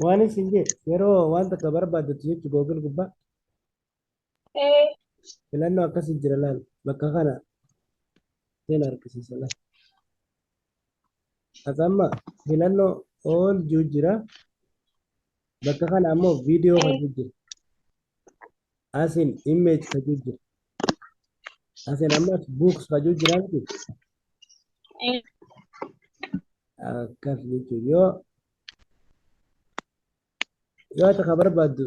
Waan isin jee yeroo waan takka barbaaddattu jechu Google gubbaa Ee, filannoo akkasii jira laal bakka kana seen harkisiisa laal. As amma filannoo all juu jira bakka kana ammoo viidiyoo kan juu jira. Asin image kan juu jira. Asin ammas books kan juu jira miti. ee, Akkas jechuun yoo Yoo takka barbaaddu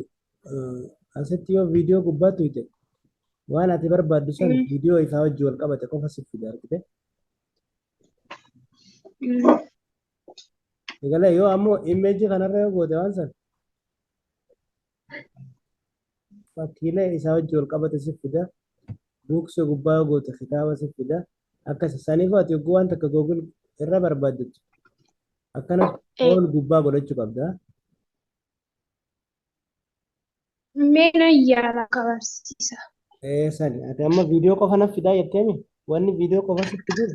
asitti yoo viidiyoo gubbaa tuyte waan ati barbaaddu san viidiyoo isaa wajji wal qabate qofa siif fida argite. Egalee yoo ammoo imeejii kanarra yoo goote waan san fakkiilee isaa wajji wal qabate si fida buuksee gubbaa yoo goote kitaaba si fida akkas saniif ati yogguu waan takka googil irra barbaaddetu akkana Eh. ol gubbaa godhachuu qabda Meena yaala kabarsiisa. ee sani ati amma viidiyoo qofa naf fidaa jetteemi wanni viidiyoo qofa sitti jiru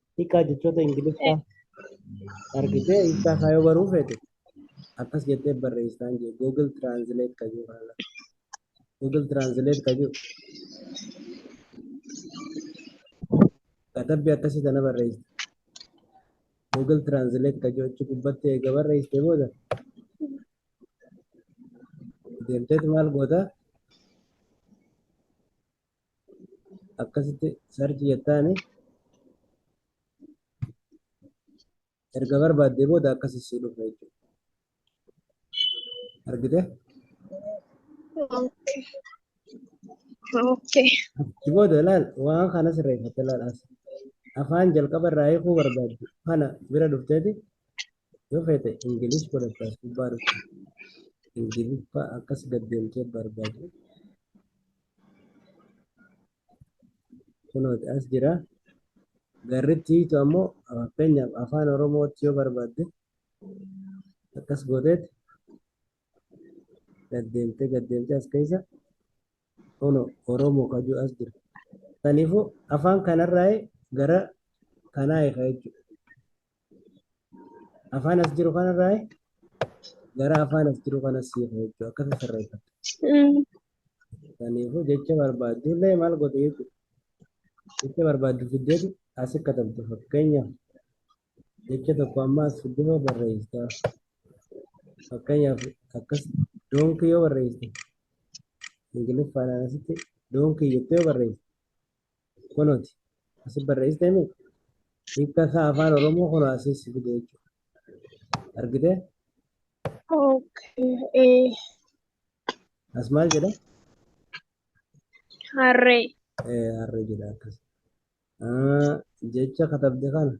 hiikaa jechoota ingiliffaa argitee hiikaa isaa yoo baruu feete akkas jettee barreessaan jee google translate ka jiru kana google translate ka jiru katabbii akkasii kana barreessite google translate ka jiru achi gubbatti eega barreessite booda deemteet maal goota akkasitti sarchi jettaani erga barbaaddee booda akkasi sii dhufa jechuudha. Argite? Okay. Okay. Achi booda ilaal waan kana sirreeffatte ilaal as. Afaan jalqaba irraa hiikuu barbaaddu kana bira dhufteeti Yoo feete Ingilish godhatta as gubbaa dhufte Ingiliffa akkas gad deemtee barbaadu. Kunooti as jira. Garritti hiitu ammoo fakkeenyaaf afaan Oromootti yoo barbaadde akkas gooteet gad deemtee gad deemtee as keessa kuno Oromoo kajuu as jira. Kanaafuu afaan kanarraa gara kanaa eega jechuudha. Afaan as jiru kanarraa gara afaan as jiru kanas hiika jechuudha. Akkasii sirreeffatu. Kanaafuu jecha barbaaddu illee maal godhu jechuudha. Jecha barbaaddu fiddeetu as katabdu fakkeenyaaf jecha tokko amma as fiddee barreessita. Fakkeenyaaf akkas doonkii yoo barreessite Ingiliffaan asitti doonkii jettee yoo barreessite Kunuuti. Asi barreessite himi. Hiikka isaa afaan Oromoo kun asii si fide jechuudha. Argitee? Okay. Eh, As maal jedha? harree. Eh, harree jedha akkas. Ah, jecha katabde kana.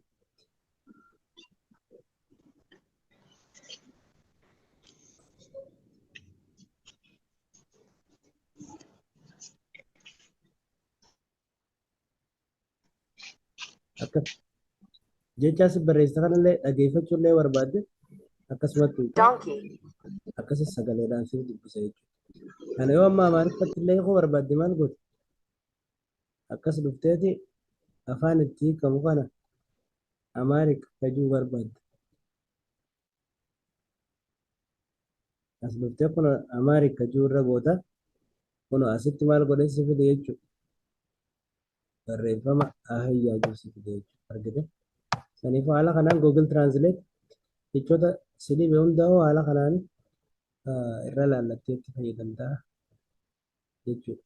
Akkas. Jechaa si barreessa kanallee dhageeffachuu illee barbaadde akkasumatti hiika. donkey, akkasas sagaleedhaan siif dubbisa jechuudha. Kana yoo amma amaariffatti illee hiikuu barbaadde maal goota? Akkas dhufteeti afaan itti hiikamu kana amaarik fajuu barbaadda. as dhuftee kun amaarik kajuu irra goota kun asitti maal godhee si fide jechuudha barreeffama ahayyaa jiru si fide jechuudha argite saniif haala kanaan google translate jechoota si dhibe hunda hoo haala kanaan irra laallattee itti fayyadamtaa jechuudha